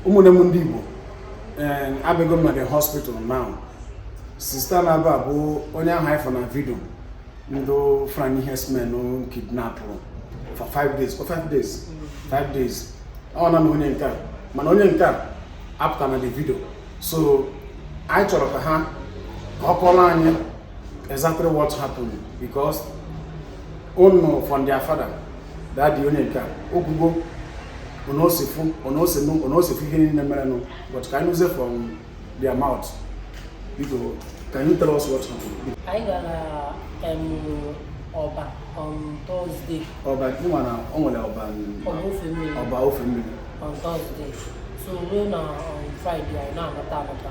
ụmụnne m ndị Igbo eh, abịago m na the hospital now sista na-aba bụ onye ahụ anyị fụ na vidio ndị Fulani herdsmen kidnapụrụ for five days for five days five days ọ na na onye nke a mana onye nke a apụta na the vidio so anyị chọrọ ka ha ka ọ kọọrọ anyị exactly what happened because unu from their father dadi onye nke a okwugo onosifu onosinu onosifu ihe niile merenụ but ka anyị nụzie from their mouth biko can you tell us what happened anyị gara em, Ọba on Thursday Ọba ị ma na o nwere Ọba Ọba Ofemmiri Ọba Ofemmiri on Thursday so ruo na on Friday anyị na-anata anata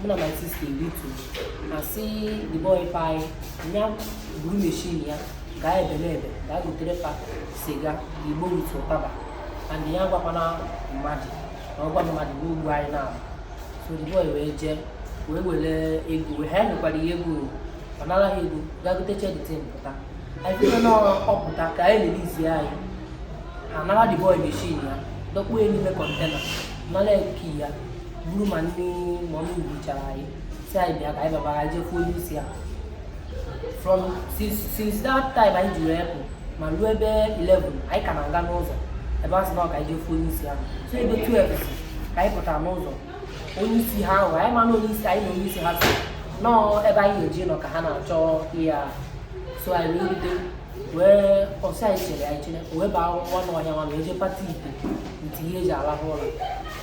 mụ na my sister erute a sị the boy pa anyị nya buru meshin ya gaa Ebenebe gaa gotere fa siga igbo with ụtaba and ya gwakwana mmadụ na ọ gwa mmadụ na o gbuo anyị na so the boy wee jee wee were ego wee ha nyekwara ya ego ọ nara ha ego gaa gotecha the thing pụta anyị chere na ọ pụta ka a releasie anyị a nara the boy meshin ya dọkpuo ya n'ime kọntena nara key ya buru ma ndị ma ọ gbuchara anyị sị anyị bịa ka anyị baba anyị jekwuo onye isi ya from since since that time anyị jiri epụ ma ruo ebe 11 anyị ka na-aga n'ụzọ ebe a sị na ọ ka anyị jekwuo onye isi ya so ebe 12 si ka anyị pụtara n'ụzọ onye isi ha ahụ anyị ma na onye isi anyị na onye isi ha so nọọ ebe anyị na-eji nọ ka ha na-achọ ihe a so anyị wee rute wee ọ sị anyị chere anyị chere wee baa nwa n'ọhịa nwa na eje pati ite nti ihe eji alahụ ụlọ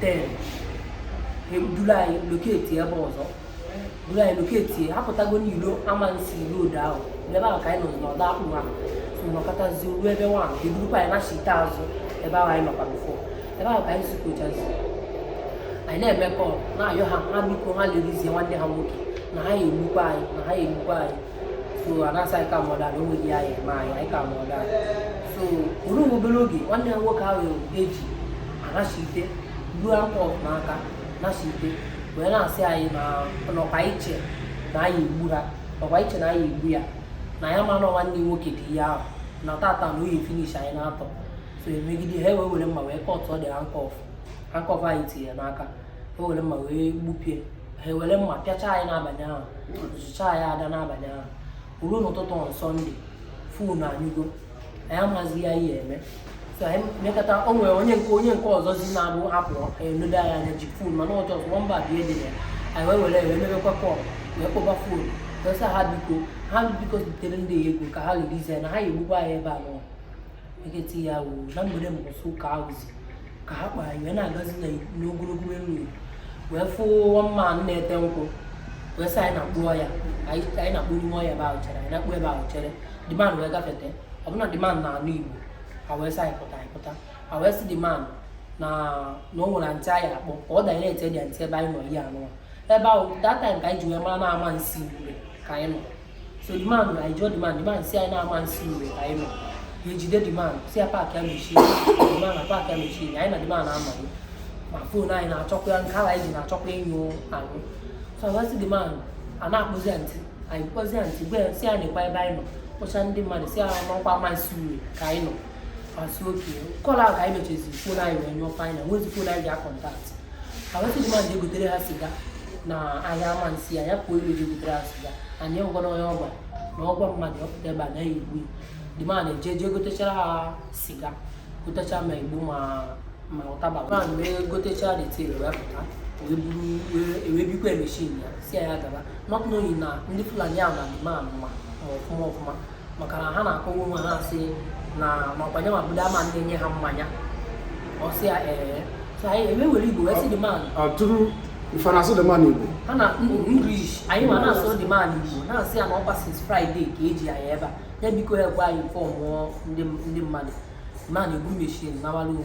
ten e duru anyị locate ebe ọzọ duru anyị locate apụtago n'ilo Amansea road ahụ ebe ahụ ka anyị nọ n'ọdọ akpụ ha nọkọtazi ruo ebe nwa e durukwa anyị na shite azụ ebe ahụ anyị nọkwa before ebe ahụ ka anyị sikochazi anyị na-eme kọl na-ayọ ha ha biko ha releasie nwanne ha nwoke na ha egbukwa anyị na ha egbukwa anyị so a na-asị anyị calm down na o nweghị ihe a ya-eme anyị anyị calm down so o ruru nwa obere oge nwanne ya nwoke ahụ eji anachite ruo handcuff n'aka nachite wee na-asị anyị na ọ kwa i che na anyị egbu ha ọ kwa i che na anyị egbu ya na ya ma na nwanne ya nwoke dị ihe ahụ na tata na ọ ya finish anyị naatọ so e megide ha wee were mma wee kọtụọ the handcuff handcuff anyị tinye n'aka ha were mma wee gbupie ha ewere mma pịacha anyị n'abalị ahụ zụcha anyị ada n'abalị ahụ ruo n'ụtụtụ on sọnde fon anyụgo anyị amaghịzi ihe a ya-eme so anyị mekọta o nwere onye nke onye nke ọzọ zi na-abụ apụ enodo anyị anya ji fon mana ọ just one bar dị ya anyị wee were wee mebekwa kọl wee kpọba fon wee sị ha biko ha biko zitere ndị ego ka ha releasie na ha ga-egbukwa anyị ebe a nwa eketi ya wụ na mgbede mbọsị ụka ahụzi ka ha kpara iwe na-agazi n'ogologo elu wee fụ one man na-ete nkwụ wee sị anyị na-akpụ ọya anyị na-akpụ n'ime ọya ebe ahụ chere anyị na-akpụ ebe ahụ chere the man wee gafete ọ bụ na the man na-anụ igbo ha wee sị anyị pụta anyị pụta ha wee sị the man na na o nwere ndị anyị akpọ ka ọ danyere ete dị ntị ebe anyị nọ ihe anụwa ebe ahụ that time ka anyị ji wee mara na Amansea ka anyị nọ so the man anyị ajụọ the man the man si anyị na Amansea ka anyị nọ ha ejide the man si ya paakịa machine the man apaakịa machine anyị na the man amaghị ma fon anyị na-achọkwa ya nke ala anyị ji na-achọkwa ịnyụ anyụ so anyị asị the man a na-akpụzi ya ntị anyị kpọzi ya ntị gwa ya si ya nekwa ebe anyị nọ kpọcha ndị mmadụ si ya na ọ kwa Amansea ka anyị nọ a sị okay call ahụ ka anyị mechazi fon anyị wee nyụọ anyị enwezi fon anyị ga-akọntaktị ha wee sị the man je gotere ha siga n'ahịa Amansea ya ya pụọ ime ji egotere ha siga anyị ọ gwa na onye ọ gwa na ọ gwa mmadụ ya pụta ebe a na ha ga-egbu ya the man ejee jee gotechara ha siga gotecha ma igbo ma ma ụtaba ma wee gotecha detil wee pụta wee buru wee- wee bikwa machine ya si ya ya gaba not knowing na ndị fulani ahụ na the man ma ma ọfụma ọfụma maka na ha na-akọwa onwe ha asị na makwa onye m bụ the man na-enye ha mmanya ọ sị ya ee so anyị eme were igbo wee sị the man atụrụ ife na-asụ the man igbo ha na english anyị wee na-asụ the man igbo na-asị ya na ọ kwa since friday ka e ji anyị ebe a ya biko ya gwa informụọ ndị mmadụ man eburu machine nawara onwe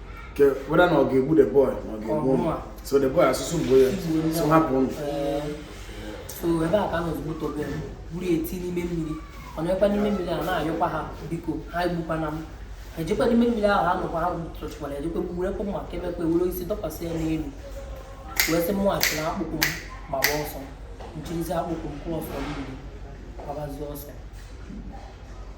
ke whether na ọ ga-egbu the boy na ọ ga-egbu ụmụ so the boy asị sị gbuo ya so hapụ mụ so ebe a ka a nọzi gbuo Tobe buru eti n'ime mmiri ọ nọkwa n'ime mmiri a na-ayọkwa ha biko ha egbukwana m ejekwa n'ime mmiri ahụ ha nọkwa ha tụrụchịkwara ejekwa gburekwa mma ka emekwa ewere isi dọkwasị ya n'elu wee sị mụ chịrị akpụkpụ m gbaba ọsọ m chịrịzi akpụkpụ ụkwụ ọsọ mmiri gbabazie ọsọ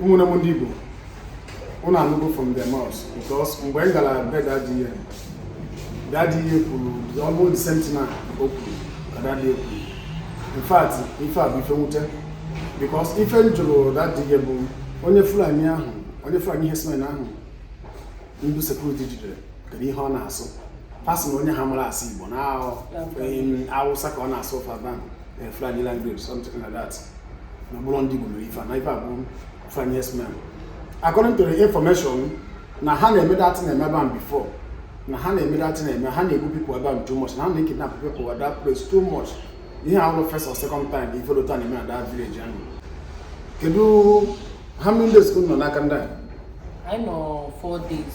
ụmụnne m ndị Igbo ụnụ anụgo from their mouths because mgbe m gara be daddy ihe daddy ya kwuru almost the same thing o kwuru ka daddy ya kwuru in fact ife a bụ ife nwute because ife m jụrụ daddy ya bụ onye Fulani ahụ onye Fulani herdsmen ahụ ndị security jidere kedu ihe ọ na-asụ a sị na onye ahụ amarọ asụ Igbo na Awụsa ka ọ na-asụ ụfọdụ ahụ eh, Fulani language something like that na ọ bụrọ ndị Igbo mere ife na ife a bụ Fulani herdsmen according to the information na ha na-eme that na-eme ebe ahụ before na ha na-eme that na-eme ha na-egbu people ebe ahụ too much na ha na-ekidnap people at that place too much ihe ahụ first or second time ife dị otu a na-eme na that village ahụ kedu how many days ka unu nọ n'aka ndị a anyị nọ 4 days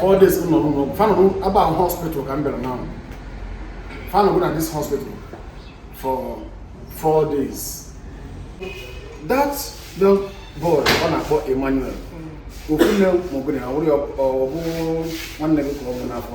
four days nọ n'ụlọ ọgwụ fa nọ ebe a bụ hospital ka m bịara now fa nọgo na this hospital for four days that young boy a na-akpọ Emmanuel okwune maọbụ na ya wụrụ ya ọ bụ nwanne gị ka ọ bụ n'afọ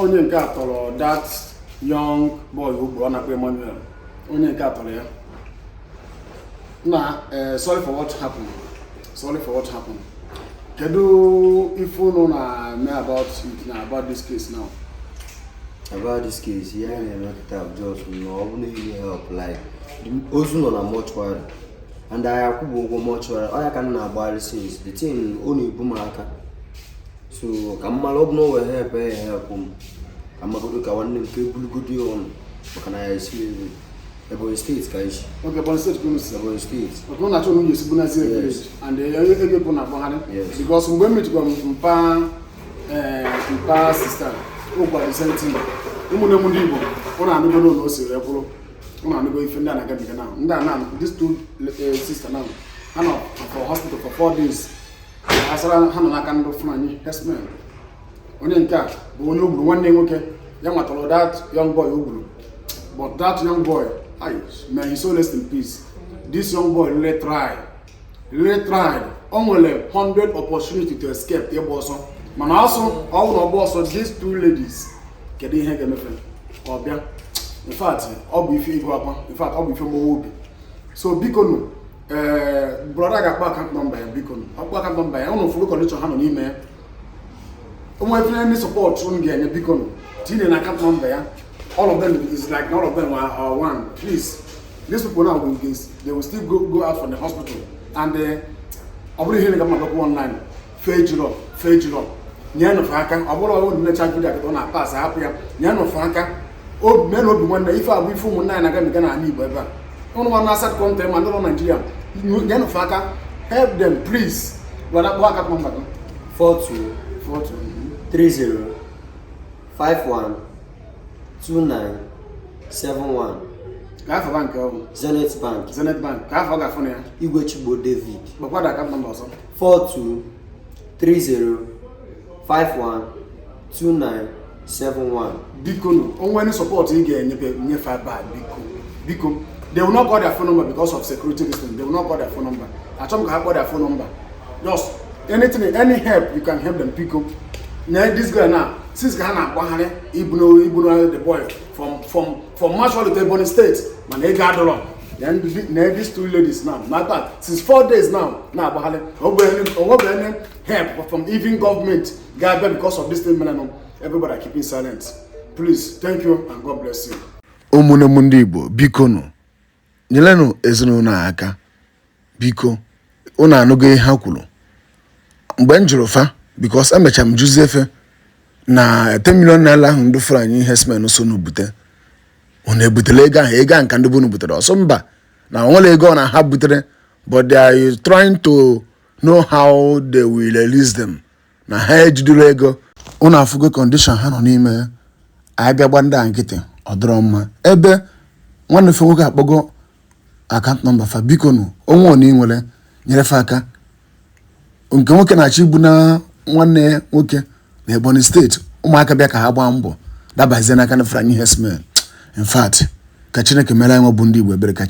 onye nke a tọrọ that young boy o gburu a na-akpọ Emmanuel onye nke a tọrọ ya na eh, sorry for what happened sorry for what happened kedu ife unu na-eme about it na about this case now about this case ihe anyị na-eme kịta bụ just na ọ bụrụ na e nwere help like ozu nọ na mortuary and anyị akwụbụ ụgwọ mortuary ọ ya ka m na-agbagharị since the thing ọ na-ebu m aka so ka m mara ọ bụ na o nwere help ya ha kwụ m ka mmagodo ka nwanne m ka ebulugodo ya ụnọ maka na ya esi ebe Ebonyi State ka anyị si okay Ebonyi State ka unu si Ebonyi State maka ụlọ achọ nwunye esi bunazi village and eh, ebe bụ na agbagharị because mgbe m mechikwa mpa eh, mpa sister ọ gwara m the same thing ụmụnne m ndị Igbo unu anụgo n'ọnụ o siri ekwụrụ unu anụgo ife ndị a na-agabiga na ndị a na-anụ this two eh, sisters now ha nọ for hospital for four days asara ha nọ n'aka ndị Fulani herdsmen onye nke a bụ onye o gburu nwanne nwoke ya nwa tọrọ that young boy o gburu but that young boy may his soul rest in peace this young boy really try really tried o nwere 100 opportunity to escape ịgba ọsọ mana ọ sị ọ bụrụ ọ gbaa ọsọ these two ladies kedu ihe ga-eme fa ka ọ bịa in fact ọ bụ ife ihu akwa in fact ọ bụ ife mgbawa obi so biko nụ ee eh, brọda ga-akpọ account number ya biko ọ kpọọ account number ya ụnụ fụrụ condition ha nọ n'ime ya ụmụ etinye ụdị support ụnụ ga-enye biko tinye na account number ya all of them is like all of them are, are one please these people now will they will still go, go out from the hospital and eh, ọ bụrọ ihe a na-agwa mmadụ online fa ejirọ fa ejirọ nyenụ fa aka ọ bụrọ ụnụ nenecha video a kịta ụnụ apass hapụ ya nyenụ fa aka meenụ obi nwanne ife a bụ ife ụmụnna anyị na-agabiga n'ala Igbo ebe a ụnụ nwa nọ outside country ma ndị nọ Naijiria nyenụ fa aka help them please were kpọọ account number gị 42 42 30 51 29 71 kee afa bank ọ bụ Zenith Bank Zenith Bank kee afa a ga-afụ na ya Igwe Chigbo David kpọkwa the account number ọzọ 4230512971 biko nụ o nwee ụdị support ị ga-enye fa nye fa ebe a biko biko they will not call their phone number because of security reasons they will not call their phone number achọrọ m ka ha kpọọ their phone number just anything any help you can help them biko na this guy now since ka ha na-agbagharị ibuna ibuna the boy from from for march holiday ebonyi state mana ego adọrọ na these two ladies now matter since four days now na-agbagharị onwebeghị any help from even government ga-abịa because of this thing mere nụ everybody are keeping silent please thank you and god bless you ụmụnne m ndị igbo biko nụ nyelenụ ezinụlọ a aka biko unu anụgo ihe ha kwuru mgbe m jụrụ fa because emecha m jụzie fa na 10 million naira ahụ ndị fulani herdsmen sị unu bute unu ebutela ego one ka ndị be unu butere ọ sị mba na onwere ego one ha butere but they are trying to know how they will release them na ha ejidero ego unu afụgo condition ha nọ n'ime ya anyị bịa gba ndị a nkịtị ọ dọrọ mma ebe nwanne fa nwoke akpọgo account number fa biko nụ o nwee one ị nwere nyere fa aka nke nwoke na-achọ ibuna nwanne ya nwoke na ebonyi state ụmụaka bịa ka ha gbaa mbọ dabazie n'aka ndị fulani herdsmen in fact ka chineke mere anyị nwa bụ ndị igbo ebere ka